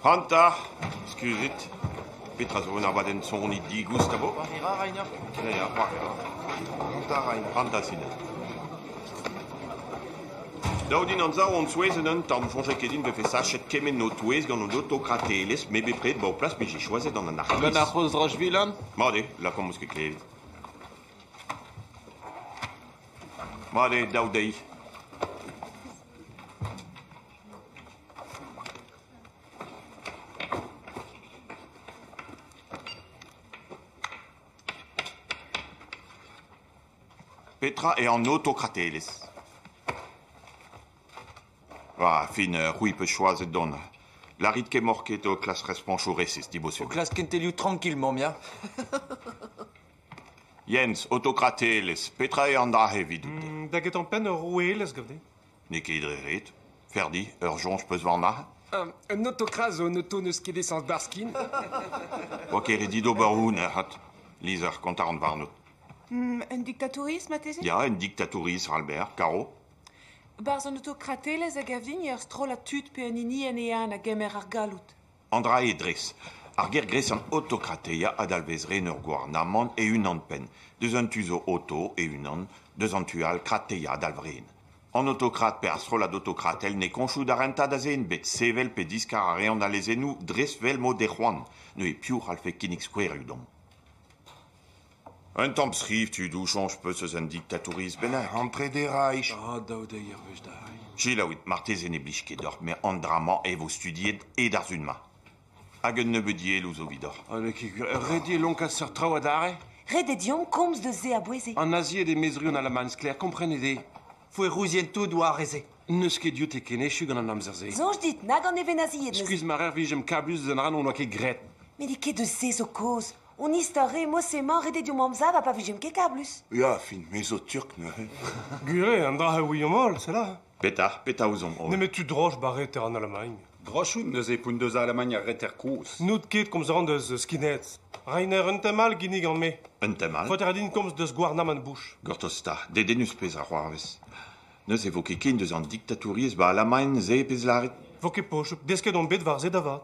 Pranta, skuizit. Petra zo un abadenn soniñ digoust a vo? Pranta rain, pranta sined. Dav din anzav on souezhet un tamm. Soñjet ket din 'vefe sachet kement ho touez gant hon autokratelezh. Me bepred 'ba ho plas 'mije choazet an anarkiz. Gant ar c'hozh Rajvilan? Mat eo, lakaomp 'meus ket klevet. Mat eo dav dezhi. Petra eo an autokratelezh? Ar fin, c'hwi 'peus choazet dont. Lârit kemmoc'h ket ho klask respoñsoù resis, dibosubl. Ho klask kentelioù trankil, mamm ya. Jens, autokratelezh, petra eo an dra-se evidout? Da gentañ penn ur roueelezh gav dit. N'eo ket dre ret. Ferdi, ur soñj 'peus war nac'h? Un autokras zo un auto n'eus ket esañs barskin. Oa ket ret dit ober hou nec'hat. Lizher, kontañ ran warnot. Un diktatouriezh marteze? Ya, un diktatouriezh, Albert, karo? Barzh an autokratelezh a gav din eo ur strollad tud pe un hinienn eeun a gemer ar galloud. An dra-se dres, ar ger gresian autokrateia a dalvez ren ur gouarnamant e-unan-penn, deus un tu zo auto e-unan, deus an tu all krateia a dalv ren. An autokrat pe ar strollad autokratel n'eo koñchoù da rentañ da zen bet sevel pe diskar a reont al lezennoù dres 'vel mod eo c'hoant. Neuze piv c'hallfe kinnig skouerioù deomp? Un tamm skriv tudoù soñj 'peus eus un diktatouriezh bennak ampret e Reich ? Ha daou deiz er wech dall. Selaouit, marteze ne blij ket deoc'h, met an dra-mañ e vo studiet e d'ar sun-mañ. Hag un nebeud dielloù zo evidoc'h. Ha n'eo ket gwir. Ret eo lonkaat seurt traoù adarre ? Ret eo deomp komz deus se a-bouez-se. An nazied emezru an Alamagn sklaer, komprenit-i. Foe rouzien tout war e-se. N'eus ket dioute ken echu gant an amzer-se. Soñj dit, nag an nevenazied n'eus. Skuizh ma rer 'vijemp kablus eus an ra n'hon doa ket graet. Met n'eo ket eus se zo kaoz. Hon istor re mod-se emañ ret eo deomp amzav ha pa vijemp ket kablus. Ya, fin, me zo turk neuze. Gwir eo, an dra a ouiomp holl, c'est là. Petra, petra ouzomp holl Nemet tu droch ba reter an Alamagn. Droch out neuze poun deus Alamagn ar reter kozh. N'out ket komzan deus skinheads. Reiner un tem all ginnig gant me. Un tem all Faoter din komz deus gouarnamant Bush. Gortoz 'ta, dedennus pezh a c'hoarvez. Neuze vo ket ken deus an diktatouriezh ba Alamagn se pezh lârit. Vo ket pochuk, desket on bet war se da vat.